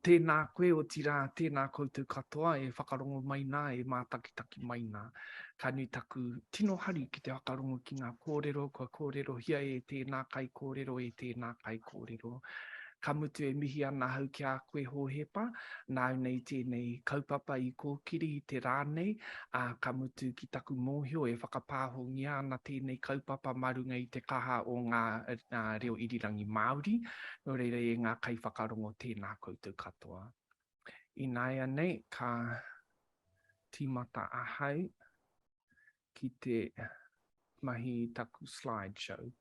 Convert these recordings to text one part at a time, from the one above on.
Tēnā koe, otirā, tēnā koutou katoa e whakarongo mai nā, e mātakitaki mai nā. Ka nui taku tino hari ki te whakarongo ki ngā kōrero kua kōrerohia e tēnā kaikōrero, e tēnā kaikōrero. Ka mutu e mihi ana ahau ki a koe Hōhepa, nāu nei tēnei kaupapa i kōkiri i te rā nei, ā, ka mutu ki taku mōhio e whakapāhongia ana tēnei kaupapa mā runga i te kaha o ngā reo irirangi Māori, Nō reira e ngā kaiwhakarongo tēnā koutou katoa. Ināianei ka tīmata ahau ki te mahi i taku slide show.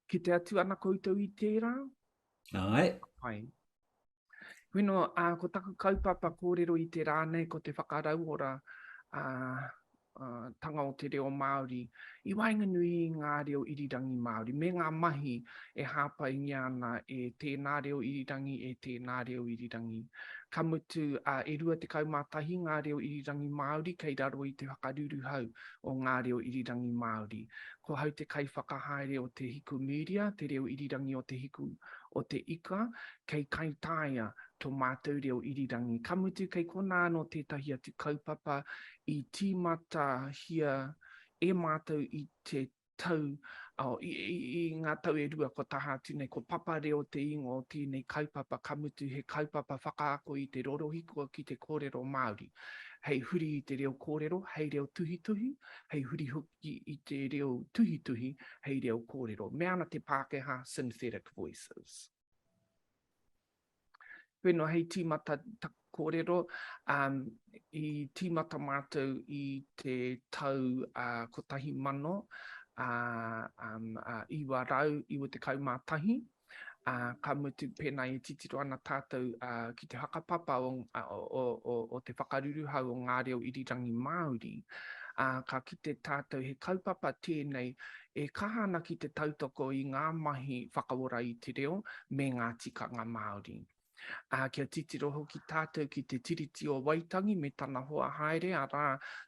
Ki te atu ana koutou i tērā? Ai. Ai. Wino, uh, ko taku kaupapa kōrero i te rā nei, ko te whakarauora uh, tanga o te reo Māori i waenganui i ngā reo irirangi Māori me ngā mahi e hāpaingia ana e tēnā reo irirangi, e tēnā reo irirangi. Ka mutu, e 21 ngā reo irirangi Māori kei raro i te whakaruruhau o ngā reo irirangi Māori. Ko hau te kaiwhakahaere o Te Hiku Media, te reo irirangi o Te Hiku o te Ika, kei kaitaia to mātou reo irirangi. Ka mutu kei konā anō tētahi atu kaupapa i tīmatahia e mātou i te tau, i ngā tau e rua kua taha atu nei, ko Papa Reo te ingoa o tēnei kaupapa, ka mutu he kaupapa whakaako i te rorohiko ki te kōrero Māori, hei huri i te reo kōrero, hei reo tuhituhi, hei huri hoki i te reo tuhituhi, hei reo kōrero. Me ana te Pākehā, synthetic voices. Koe noa hei tīmata kōrero, i tīmata mātou i te tau 1991, ka mutu pēnā i titiro ana tātou ki te whakapapa o te whakaruruhau o ngā reo irirangi Māori, ka kite tātou he kaupapa tēnei e kaha ana ki te tautoko i ngā mahi whakaora i te reo me ngā tikanga Māori. Ā, kia titiro hoki tātou ki te Tiriti o Waitangi me tana hoa haere, arā,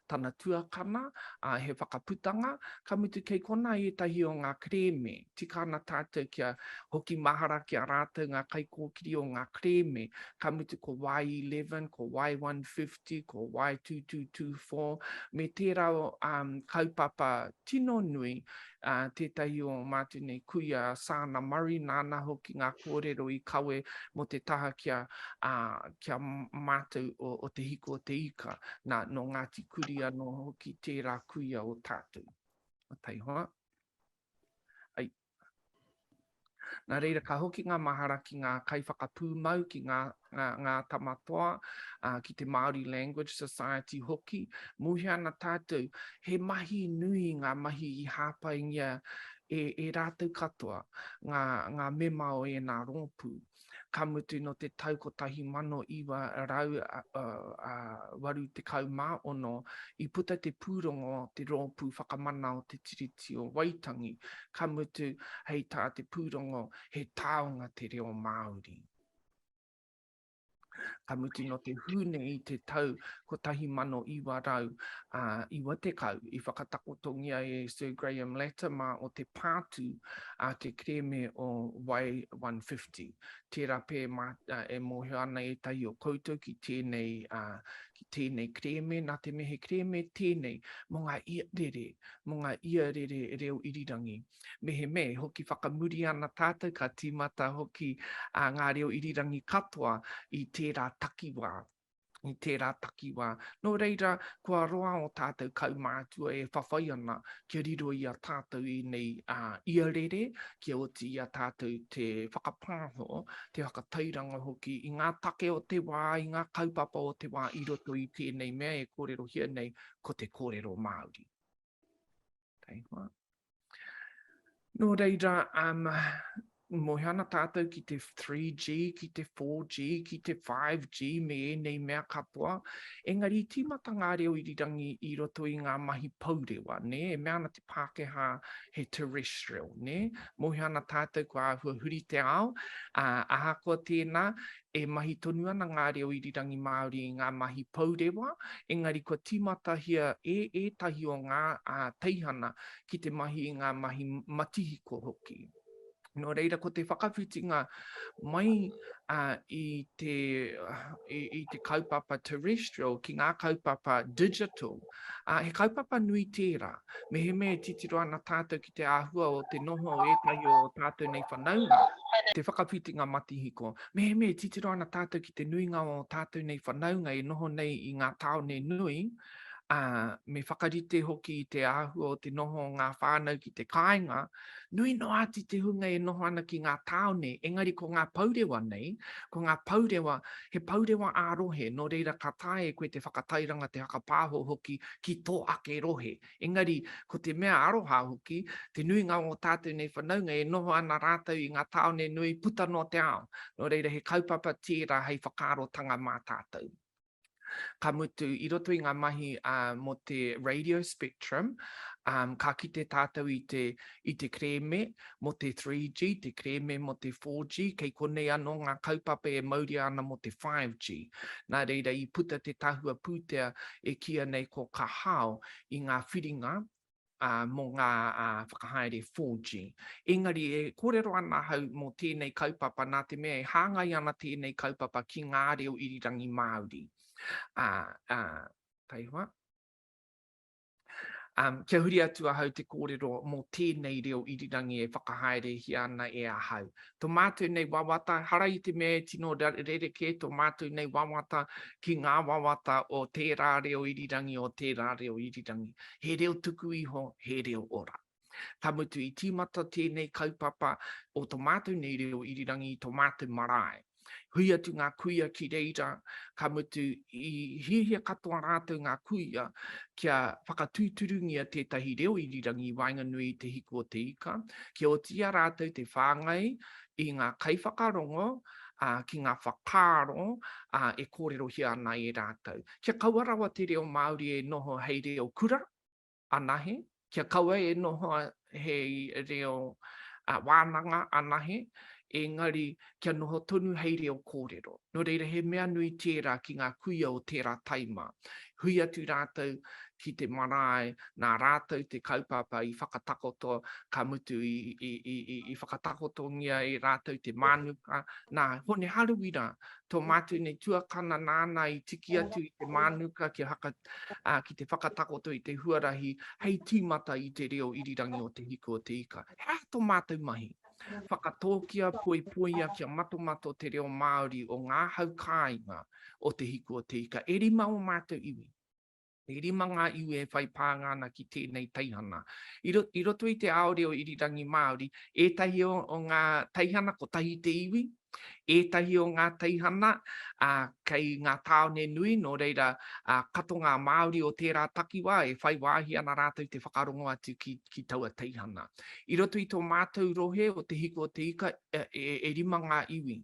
tana tuakana, ā, he whakaputanga, ka mutu kei konā ētahi o ngā kerēme. Tika ana tātou kia hoki mahara ki a rātou ngā kaikōkiri o ngā kerēme, ka mutu ko Y11, ko Y150, Te ko Y222-4 me tērā kaupapa tino nui, tētahi o Mātou nei kuia Saana Murray nāna hoki ngā kōrero i kawe mō te taha ki a ki a mātou o Te Hiku o te Ika, nā nō Ngāti Kuri anō hoki tērā kuia o tātou. Taihoa. Nā reira, ka hoki ngā mahara ki ngā kaiwhakapūmau, ki ngā ngā tama toa, ki te Māori Language Society hoki, muhe ana tātou, he mahi nui ngā mahi i hāpaingia e rātou katoa, ngā mema o ēnā rōpū. ka mutu nō te tau 1986 i puta te pūrongo Te Rōpū Whakamana o Te Tiriti o Waitangi, ka mutu, hei tā te pūrongo, he taonga te reo Māori. ka mutu no te Hune i te tau 1990 i whakatakotongia e Sir Graham Latimer o te Pātū a te kerēme o Way 150. Tērā pea e mōhio ana ētahi o koutou ki tēnei, ki tēnei kerēme, nā te mea he kerēme tēnei mō ngā iarere, mō ngā iarere reo irirangi. mehemē hoki whakamuri ana tātou ka tīmata hoki ngā reo irirangi katoa i tērā takiwā, i tērā takiwā. Nō reira, kua roa ō tātou kaumātua e whawhai ana kia riro i a tātou ēnei iarere, kia oti i a tātou te whakapāho, te whakatairanga hoki i ngā take o te wā, i ngā kaupapa o te wā i roto i tēnei mea e kōrerohia nei ko te kōrero Māori. Kei hoa. Nō reira, um, moe ana tātou ki te 3G, ki te 4G, ki te 5G, me ēnei mea katoa. Engari, i tīmata ngā reo irirangi i roto i ngā mahi pourewa, nē, e mea ana te Pākehā he terrestrial, nē. Moe ana tātou kua āhua huri te ao, ā, ahakoa tēnā, E mahi tonu ana ngā reo irirangi Māori i ngā mahi pourewa, engari kua tīmatahia e ētahi o ngā teihana ki te mahi i ngā mahi matihiko hoki. Nō reira, ko te whakawhitinga mai i te kaupapa terrestrial ki ngā kaupapa digital, ā, he kaupapa nui tērā. Mehemea e titiro ana tātou ki te āhua o te noho o ētahi o ō tātou nei whanaunga, te whakawhitinga matihiko, mehemea e titiro ana tātou ki te nuinga o ō tātou nei whanaunga e noho nei i ngā tāone nui, ā, me whakarite hoki i te āhua o te noho o ngā whānau ki te kāinga, Nui noa atu te hunga e noho ana ki ngā tāone, engari ko ngā pourewa nei, ko ngā pourewa, he pourewa ā-rohe, nō reira ka taea e koe te whakatairanga, te whakapāho hoki ki tō ake rohe. Engari, ko te mea aroha hoki, te nuinga o ngō tātou nei whanaunga e noho ana rātou i ngā tāone nui puta noa te ao, nō reira he kaupapa tērā hei whakaarotanga mā tātou. Ka mutu, i roto i ngā mahi mō te radio spectrum, ka kite tātou i te, i te kerēme mō te 3G, te kerēme mō te 4G, kei konei anō ngā kaupapa e mauria ana mō te 5G. Nā reira, i puta te tahua pūtea e kīia nei ko Ka Hao i ngā whiringa mō ngā whakahaere 4G. Engari e kōrero ana ahau mō tēnei kaupapa nā te mea e hāngai ana tēnei kaupapa ki ngā reo irirangi Māori. Taihoa. Kia huri atu ahau te kōrero mō tēnei reo irirangi e whakahaerehia ana e ahau. tō mātou nei wawata, hara i te mea e tino rerekē tō mātou nei wawata ki ngā wawata o tērā reo irirangi, o tērā reo irirangi. He reo tuku iho, he reo ora. Ka mutu i tīmata tēnei kaupapa o tō mātou nei reo irirangi i tō mātou marae. Hui atu ngā kuia ki reira, ka mutu i hiahia katoa rātou ngā kuia kia whakatūturungia tētahi reo irirangi i waenganui i Te Hiku o Te Ika, kia oti i a rātou te whāngai i ngā kaiwhakarongo, ā, ki ngā whakaaro, ā, e kōrerohia ana e rātou. Kia kaua rawa te reo Māori e noho hei reo kura. anahe, kia kaua e noho hei reo wānanga anahe, engari kia noho tonu hei reo kōrero. Nō reira, he mea nui tērā ki ngā kuia o tērā taima. Hui atu rātou ki te marae, nā rātou te kaupapa i whakatakoto, ka mutu i whakatakotongia e rātou te mānuka, nā Hone Haruwira tō mātou nei tuakana nāna i tiki atu i te mānuka kia haka, ā, ki te whakatakoto i te huarahi hei tīmata i te reo irirangi o Te Hiku o te Ika. He aha tō mātou mahi? Whakatōkia, poipoia kia matomato te reo Māori o ngā hau kāinga o Te Hiku o te Ika e rima o mātou iwi. E rima ngā iwi e whai pānga ana ki tēnei teihana. I roto i te ao reo irirangi Māori, ētahi o ngā teihana kotahi te iwi, ētahi o ngā teihana kei ngā tāone nui, nō reira kato ngā Māori o tērā takiwā e whai wāhi ana rātou te whakarongo atu ki taua teihana. I roto i tō mātou rohe o Te Hiko o te Ika, e rima ngā iwi.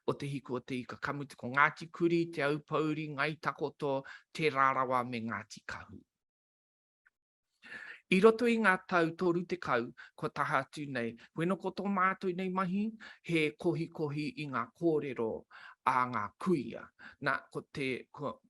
o Te Hiku o Te Ika, ka mutu ko Ngāti Kuri, Te Aupōuri, Ngai Takoto, Te Rarawa me Ngāti Kahu. I roto i ngā tau 30 kua taha atu nei, wheno ko tō mātou nei mahi he kohikohi i ngā kōrero a ngā kuia. Nā, ko te,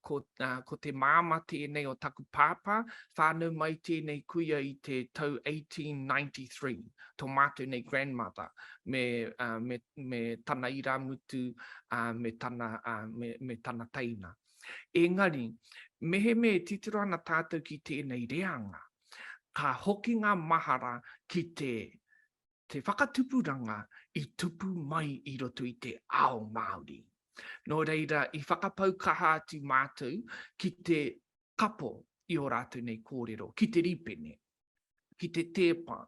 ko, uh, ko te māma tēnei o taku pāpā, whānau mai tēnei kuia i te tau 1893, tō mātou nei grandmother, me, uh, me, me tana irāmutu, uh, me, tana, uh, me, me tana teina. Engari, mehemea e titiro ana tātou ki tēnei reanga, ka hoki ngā mahara ki te Te whakatupuranga i tupu mai i roto i te ao Māori. Nō reira, i whakapau kaha atu mātou ki te kapo i ō rātou nei kōrero, ki te rīpene, ki te tēpa,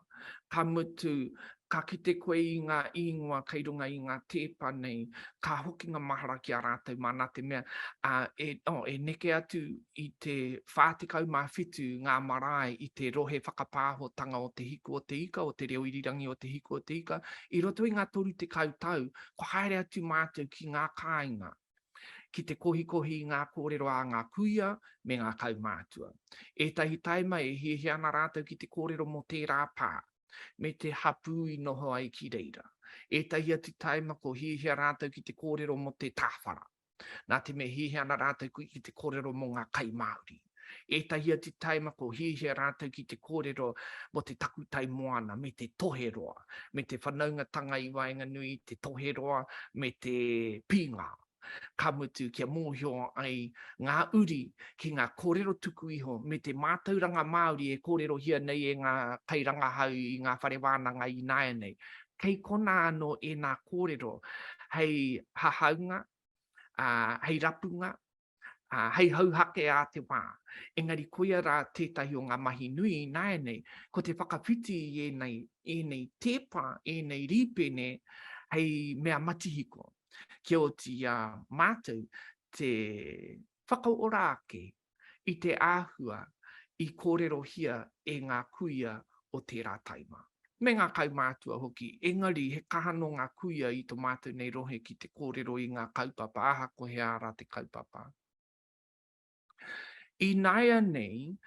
ka mutu, ka kite koe i ngā īngoa kei runga i ngā tēpa nei, ka hokinga mahara ki a rātou māna te mea, e neke atu i te 47 ngā marae i te rohe whakapāhotanga o Te Hiku o te Ika, o Te Reo Irirangi o Te Hiku o te Ika, i roto i ngā 30 tau, kua haere atu mātou ki ngā kāinga, ki te kohikohi i ngā kōrero a ngā kuia me ngā kaumātua. Ētahi taima e hiahia ana rātou ki te kōrero mō tērā pā, me te hapū i noho ai ki reira. Ētahi atu taima kua hiahia rātou ki te kōrero mō te tāwhara. Nā te mea hiahia ana rātou ki te kōrero mō ngā kai Māori, ētahi atu taimako hiahia rātou ki te kōrero mō te takutai moana me te toheroa, me te whanaungatanga i waenganui i te toheroa me te pīngā, ka mutu kia mōhio ai ngā uri ki ngā kōrero tuku iho me te mātauranga Māori e kōrerohia nei e ngā kairangahau i ngā whare wānanga ināianei, Kei konā anō ēnā kōrero hei hahaunga, ā, hei rapunga, ā, hei hauhake ā te wā. Engari koia rā tētahi o ngā mahi nui ināianei, ko te whakawhiti i ēnei, ēnei tēpa, ēnei rīpene hei mea matihiko, kia oti i a mātou te whakaora ake i te āhua i kōrerohia e ngā kuia o tērā taima, me ngā kaumātua hoki, engari he kaha nō ngā kuia i tō mātou nei rohe ki te kōrero i ngā kaupapa aha ko he ā rā te kaupapa. Ināianei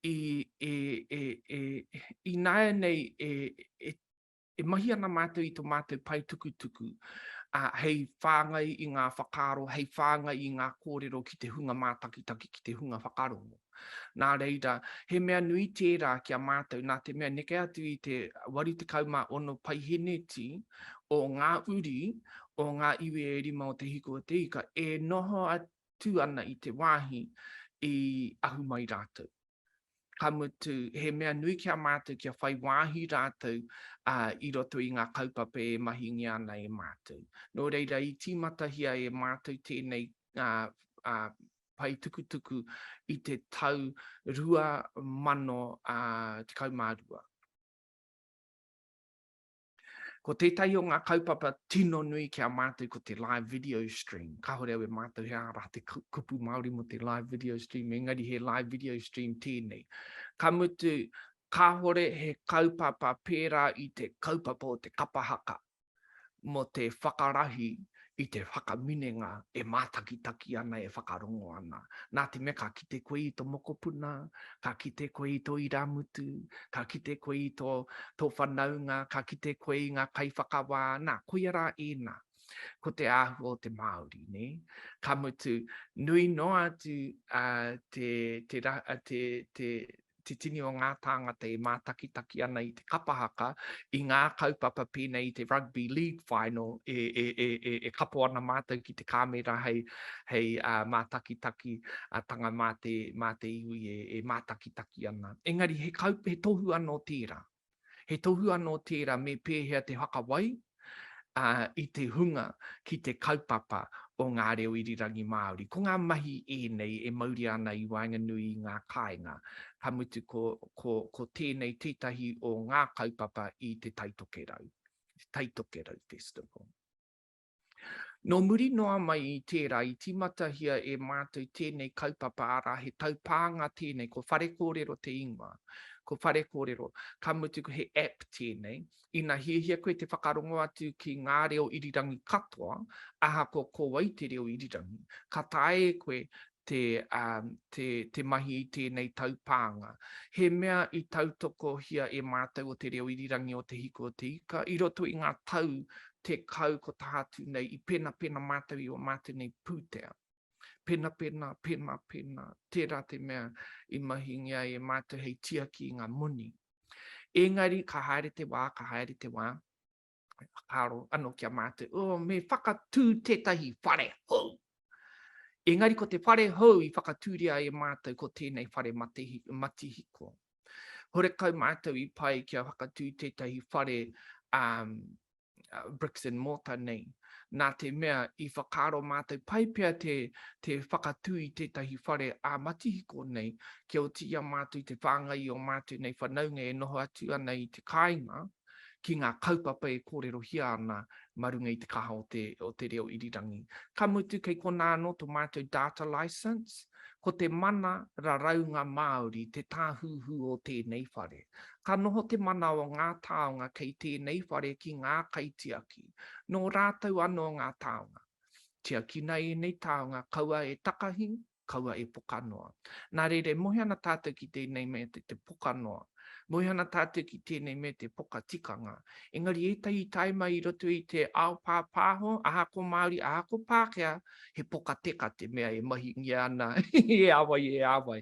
e E mahi ana mātou i tō mātou pae tukutuku, ā, hei whāngai i ngā whakaaro, hei whāngai i ngā kōrero ki te hunga mātakitaki, ki te hunga whakarongo. Nā reira, he mea nui tērā ki a mātou, nā te mea neke atu i te 86 paiheneti o ngā uri o ngā iwi e rima o Te Hiku o te Ika e noho atu ana i te wāhi i ahu mai rātou. ka mutu, he mea nui ki a mātou kia whai wāhi rātou i roto i ngā kaupapa e mahingia ana e mātou. Nō reira, i tīmatahia e mātou tēnei pae tukutuku i te tau 2012. Ko tētahi o ngā kaupapa tino nui ki a mātou ko te live video stream. Kāore au e mātou he ārā te kupu Māori mō te live video stream, engari he live video stream tēnei. Ka mutu, kāore he kaupapa pērā i te kaupapa o te kapa haka mō te whakarahi i te whakaminenga e mātakitaki ana, e whakarongo ana. Nā te mea ka kite koe i tō mokopuna, ka kite koe i tō irāmutu, ka kite koe i tō, tō whanaunga, ka kite koe i ngā kaiwhakawā, nā, koia rā ēnā. Ko te āhua o te Māori, nē? Ka mutu, nui noa atu te, te, te, te, te tini o ngā tāngata e mātakitaki ana i te kapa haka, i ngā kaupapa pēnei i te Rugby League Final e, e, e, e, e kapo ana mātou ki te kāmera hei, hei uh, mātakitaki uh, tanga mā te, mā te iwi e, e mātakitaki ana. Engari he, kaup, he tohu anō tērā. He tohu anō tērā me pēhea te whakawai i te hunga ki te kaupapa o ngā reo irirangi Māori. Ko ngā mahi ēnei e mauria ana i waenganui i ngā kāinga, ka mutu ko tēnei tētahi o ngā kaupapa i te Taitokerau, Taitokerau Festival. Nō muri noa mai i tērā i tīmatahia e mātou tēnei kaupapa arā he taupānga tēnei ko Whare Kōrero te ingoa, ko Whare Kōrero, ka mutu ko he app tēnei, ina hiahia koe te whakarongo atu ki ngā reo irirangi katoa, ahakoa ko wai te reo irirangi, ka taea e koe te mahi i tēnei taupānga. He mea i tautokohia e mātou o Te Reo Irirangi o Te Hiku o Te Ika i roto i ngā tau tekau ko taha atu nei i penapena mātou i ō mātou nei pūtea. Penapena, penapena, tērā te mea i mahingia ai e mātou hei tiaki i ngā moni. Engari ka haere te wā, ka haere te wā. Me whakaaro ano ki a mātou, oh, me whakatū tētahi whare hou. Engari ko te whare hou i whakatūria e mātou ko tēnei whare matihiko. Horekau mātou i pai kia whakatū tētahi whare um, uh, bricks and mortar nei. Nā te mea i whakaaro mātou pai pia te, te whakatū i tētahi whare a matihiko nei, kia o tia mātou te whāngai o mātou nei whanaunga e noho atu ana i te kāinga. ki ngā kaupapa e kōrerohia ana mā runga i te kaha o te reo irirangi. Ka mutu kei konā anō tō mātou Data Licence, ko te mana raraunga Māori te tāhuhu o tēnei whare. Ka noho te mana o ngā taonga kei tēnei whare ki ngā kaitiaki, nō rātou anō ngā taonga. Tiakina ēnei taonga kaua e takahi kaua e pokanoa. Nā reira, e mohi ana tātou ki tēnei mea te te pokanoa. Mohi ana tātou ki tēnei mea te pokatikanga. Engari ētahi i tae mai i roto i te ao pāpāho, aha ko Māori, aha ko Pākehā, he pokateka te mea e mahingia ana i e āwai, e āwai.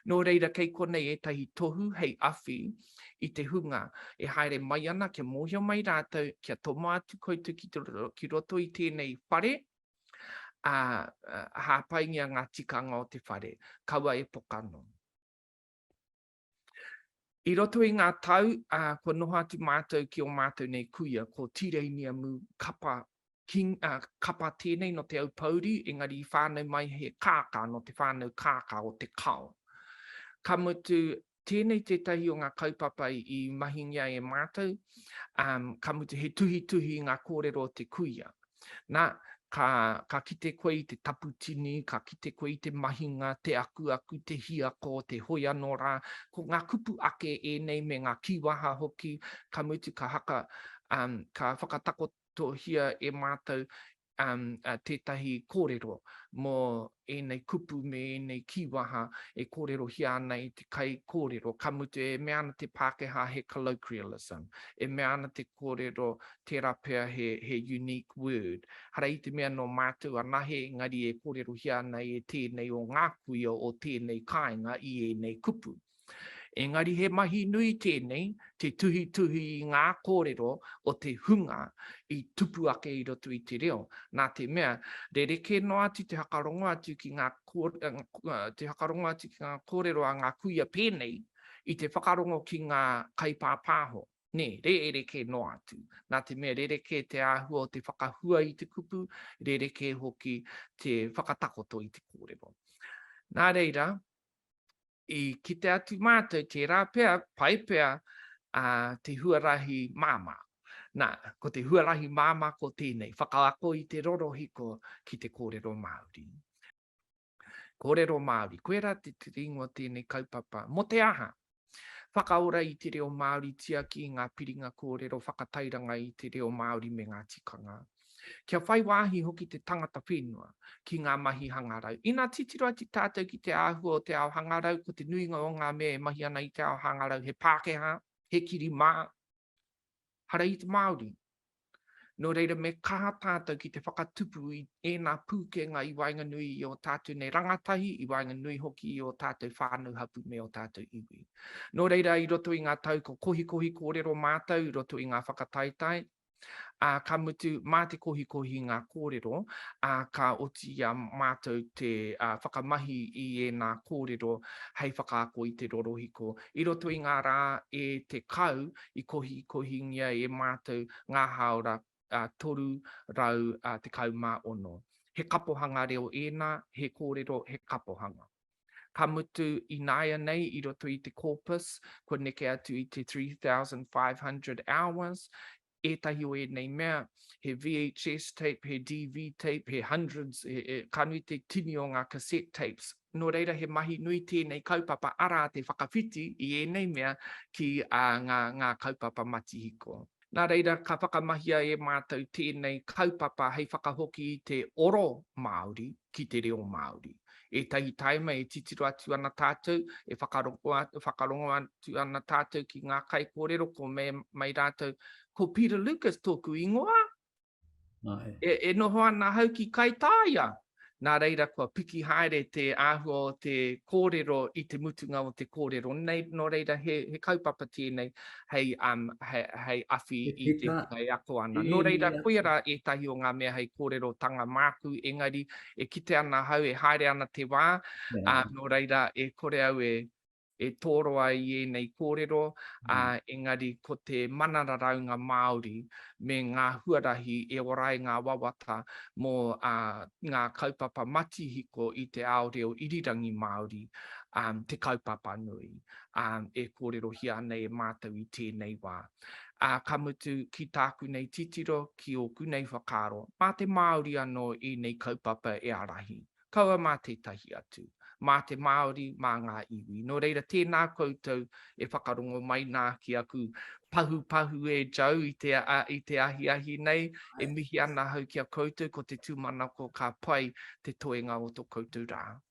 Nō reira, kei konei ētahi tohu hei awhi i te hunga e haere mai ana kia mōhio mai rātou, kia tomo atu koutou ki roto i tēnei whare, ā, hāpaingia ngā tikanga o te whare, kaua e pokano. I roto i ngā tau, ā, kua noho atu mātou ki ō mātou nei kuia, ko Tīreiniamu kapa, king, ā, kapa tēnei nō Te Aupōuri, engari i whānau mai he kākā nō te whānau kākā o Te Kao. Ka mutu, Tēnei tētahi o ngā kaupapa i mahingia e mātou, ka mutu he tuhituhi i ngā kōrero o te kuia. Nā, ka, ka kite koe i te tapu tini, ka kite koe i te mahinga, te akuaku, te hiako, te hoi anō rā, ko ngā kupu ake ēnei me ngā kīwaha hoki, ka mutu ka haka, ka whakatakotohia e mātou tētahi kōrero mō ēnei kupu me ēnei kīwaha e kōrerohia ana e te kaikōrero, ka mutu e mea ana te Pākehā he colloquialism, e mea ana te kōrero tērā pea he unique word. Hara i te mea nō mātou anahe engari e kōrerohia ana e tēnei o ngā kuia o tēnei kāinga i ēnei kupu. Engari he mahi nui tēnei te tuhituhi i ngā kōrero o te hunga i tupu ake i roto i te reo, nā te mea, rerekē noa atu te hakarongo atu ki ngā te hakarongo atu ki ngā kōrero a ngā kuia pēnei i te whakarongo ki ngā kaipāpāho, nē, rerekē noa atu, nā te mea rerekē te āhua o te whakahua i te kupu, rerekē hoki te whakatakoto i te kōrero. Nā reira, i kite atu mātou tērā pea, pai pea te huarahi māmā. Nā, ko te huarahi māmā ko tēnei, whakaako i te rorohiko ki te kōrero Māori. Kōrero Māori, koirā te tiri ingoa tēnei kaupapa, mō te aha? Whakaora i te reo Māori Tiaki i ngā piringa kōrero Whakatairanga i te reo Māori me ngā tikanga Kia whai wāhi hoki te tangata whenua ki ngā mahi hangarau Ina titiro atu tātou ki te āhua o te ao hangarau Ko te nuinga o ngā mea e mahi ana i te ao hangarau he Pākehā, he kiri mā, Hara i te Māori. Nō reira me kaha tātou ki te whakatupu i ēnā pūkenga i waenganui i ō tātou nei rangatahi, i waenganui hoki i ō tātou whānau hapū me ō tātou iwi. Nō reira i roto i ngā tau ko kohikohi kōrero mātou i roto i ngā whakataetae, ā, ka mutu mā te kohikohi ngā kōrero, ā, ka oti i a mātou te whakamahi i ēnā kōrero hei whakaako i te rorohiko. I roto i ngā rā e 10 i kohikohingia e mātou ngā hāora 316. He kapohanga reo ēnā, he kōrero, he kapohanga. Ka mutu ināianei i roto i te corpus, kua neke atu i te 3,500 hours, ētahi o ēnei mea, he VHS tape, he DV tape, he hundreds, ka nui te tini o ngā cassette tapes. Nō reira he mahi nui tēnei kaupapa arā te whakawhiti i ēnei mea ki ngā kaupapa matihiko. Nā reira ka whakamahia e mātou tēnei kaupapa hei whakahoki i te oro Māori ki te reo Māori. Ētahi taima e titiro atu ana tātou, e whakarongo atu ana tātou ki ngā kaikōrero ko Mea mai rātou, Ko Peter Lucas tōku ingoa, E, e noho ana ahau ki Kaitāia. Nā reira kua piki haere te āhua o te kōrero i te mutunga o te kōrero. Nei, nō reira he, he kaupapa tēnei hei, um, hei, hei awhi i te hunga e ako ana. Nō reira, koia rā ētahi o ngā mea hei kōrerotanga māku, engari e kite ana ahau e haere ana te wā, yeah. uh, nō reira e kore au e, e toro ai i ēnei kōrero, ā, engari ko te mana raraunga Māori me ngā huarahi e ora ai ngā wawata mō ngā kaupapa matihiko i te ao reo irirangi Māori te kaupapa nui e kōrerohia ana e mātou i tēnei wā. Ā, ka mutu, ki tāku nei titiro, ki ōku nei whakaaro, mā te Māori anō ēnei kaupapa e ārahi. kaua mā tētahi atu, mā te Māori, mā ngā iwi. Nō reira, tēnā koutou e whakarongo mai nā ki aku pahupahu e Joe i te ahiahi nei, e mihi ana ahau ki a koutou, ko te tūmanako ka pai te toenga o tō koutou rā.